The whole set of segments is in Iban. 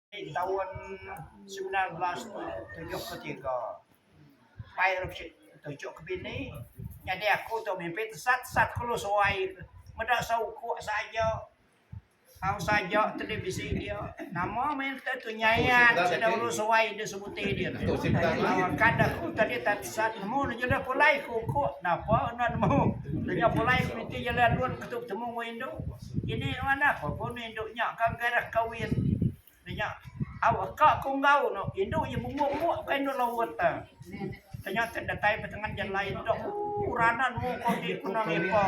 Di taun semilan belas tujuh puluh tiga, Pai Rashid tuchuk ke bini nyadi aku tu mimpi tesat sat kulu suai meda seukok saja au saja televisi dia nama meh enta tu nyayat sida ulu suai di sebuti dia tu kad aku tadi ta tesat nemu ne jelu pulai ku ukok napa nemu tanya pulai ku niti jelu alun betemu ku indu. Ini nuan dah ko ko ni indu nya ka garak kawin nya au aka ko enggau no indu iya benguk benguk ka indu lawut ta tanya ke datai petengan jan lain dok ooh ranan mu ko ti ku nang ipo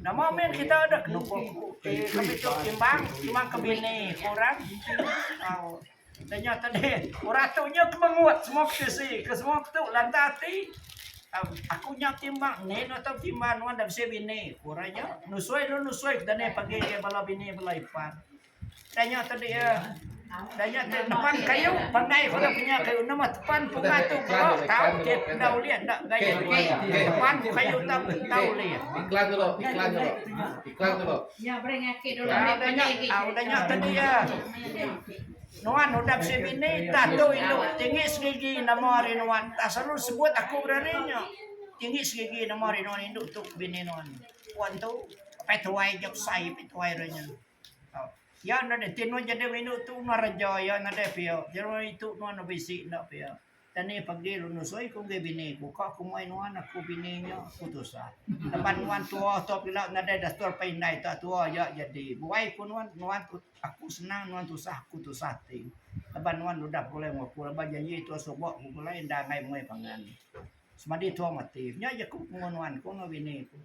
nama min kita dek nuko ku ti kami tu timbang timbang ke bini ku orang au Tanya tadi orang tu nya ke mengut semua petisi ke semua ke tu lantak ati aku nya timbang ni no tau timbang nuan dah bisi bini orang nya nusui lu nusui ke dani pagi ke bala bini bala ipan tanya tadi ya tanya tadi nepan kayu pangai pada punya kayu nama tepan punga tu bro tau ke enda ulih enda gaya tepan kayu tau enda ulih iklan dulu iklan dulu iklan dulu ya bring aki dulu tanya tadi ya Nuan udah bisi bini tah tu indu tinggi segigi nama ari nuan tah selalu sebut aku berari nya tinggi segigi nama ari nuan indu tu bini nuan puan tu apai tuai ja besai apai tuai re nya tau ya enda ti nuan jadi indu tu ngereja ya nadai pia jeran itu nuan bisi enda pia. Tani pagi lu nusui ku enggi bini ku ka ku mei nuan aku bini nya aku tusah leban nuan tua tu pila nadai dator pa indai tak tua ja jadi buai ku nuan nuan tu aku senang nuan tusah aku tusah ati leban nuan udah begulai ngan aku leban janji tua suba ku begulai enda angai mei pangan semadi tua mati nya ja ku penguman nuan ku enggau bini ku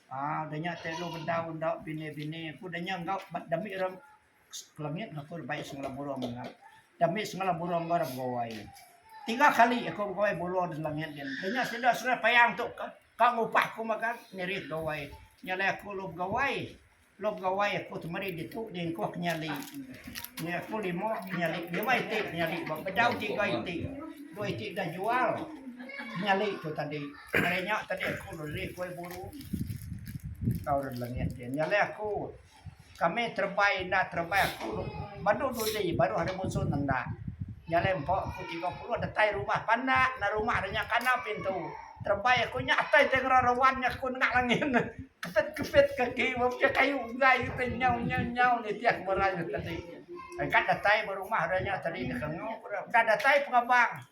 um da nya tei lu bedau enda bini bini ku da nya enggau ba demi re Langit aku dah bai sengela burung nya. Dah ambi sengela burung ko dah begawai. Tiga kali aku begawai burung da langit nya. Da nya sida serai payang tu ka ka ngupah aku magang nirih gawai. Nya alai aku lu begawai, lu begawai aku temeri ditu jingkuh ke nyali. Nya aku lima ke nyali, lima iti ke nyali ba bedau tiga iti. Dua iti dah jual ke nyali tu tadi. Ari nya tadi aku lu nirih gawai burung tau da langit. Nya alai aku. Kami terebai enda terebai aku badu dudi baru hari munsuh nenda jalai empu aku tiga puluh datai rumah pandak enda rumah nya kana pintu terebai aku nya atai tai ngeran rawan nya aku nengah langit ne keset keset kaki buk ke kayu enggai ke nyau nyau nyau nitih aku merai tadi engka datai ba rumah re nya tadi deka engu ku re enda datai pengabang.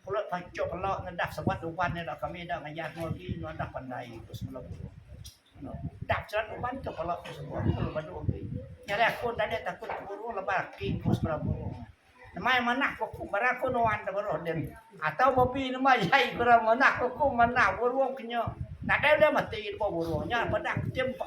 Kelo tau icuk kelo ngedah sebat uban nya dah kami dah ngayah enggau agi nuadah pandai ku sebelum tu. Udah sebat uban tu kelo ku semua kelo badu agi. Nya ari aku enda deh takut ke guru laban aki ku sebelah guru. Nemai manah ke aku barang aku nuan da beruh din atau babi nemai jai ku ra manah ke aku manah burung ke nya nadai ulih mati lebuh burung nya peda kitai empa.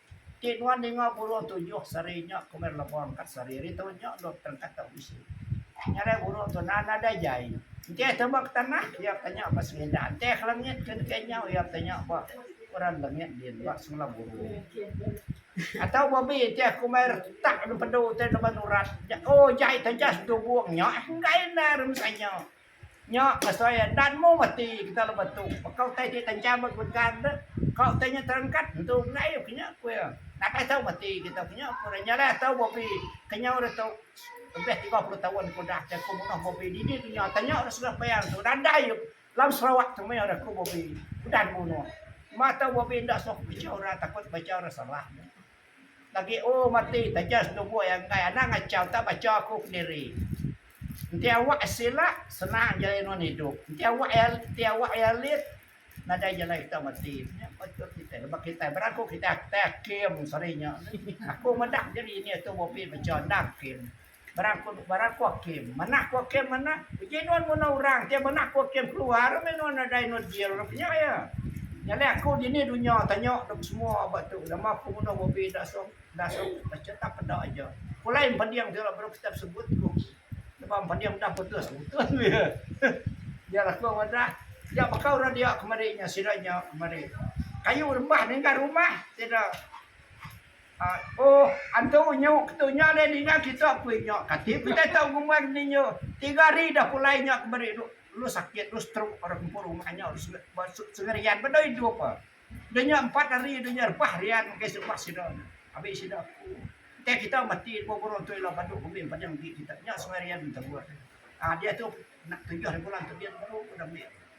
Ti nuan ninga buruh tujuh seri nya kumeh lebong ka seri ari tu nya dok terengkat tau bisi. Ngagai buruh tu nan nadai jai. Enti aja tama ke tanah iya tanya ba semindah. Enti aja ke langit ke deka nyau iya tanya ba orang langit din ba semula buruh. Atau babi enti aja kumeh retak nempedu utai laban urat. Nya oh jai taja sedugung nya enggai enda ari mesanya. Nya asai adan mu mati kita lebuh tu. Baka utai ti tancang ba geregan tu, ka utai nya terengkat entu enggai ku nya ku iya. Nadai tau mati kita ku nya ku orang nya lah tau Bobby kenyau dah tu lebih tiga puluh taun ku udah ke ku menoh Bobby dini ku nya tanya orang Sungei Payang tu nadai lang Sarawak tu meh orang ku Bobby udah dibunuh. Mah tau Bobby enda suah baca orang takut baca orang salah. Lagi oh mati taja setubuh iya enggai anang achau tak bacha aku pendiri. Enti awak sila senang jalai nuan idup enti awak iya enti awak iya lit nadai jalai kita mati nya patut kitai laban kitai beraku kitai kitai hakim seri nya. Aku meda diri nya tubuh pi bacha enda hakim. Beraku aku kem manah aku kem manah uji nuan munah orang kem manah aku kem keluar meh nuan nadai nuan jil rap nya ya nyadi aku dini dunya tanya dep semua ba tu nama aku munah babi dak sop dak sop cerita peda aja pulai mending tula baru kita sebut ku neba mending udah putus putus meh ya ya aku madah ya baka orang dia kemari nya sida nya kemari kayu rembah ningga rumah sida. Ohh antu nyu ketu nya deh ninga kitu apui nya kati ku utai tau ngumbai meni nya tiga hari dah pulai nya ke meri lu sakit lu stroke orang empu rumah nya ba sengerian ba dau idup ah dah nya empat hari dah nya rebah rian mega isi rumah sida nya abis sida aku utai kita mati dua burung tu ila badu ke mih padang agi kita nya sengerian enta buah ah diatu nak tujuh ari bulan tu diatu baru ku dah meh.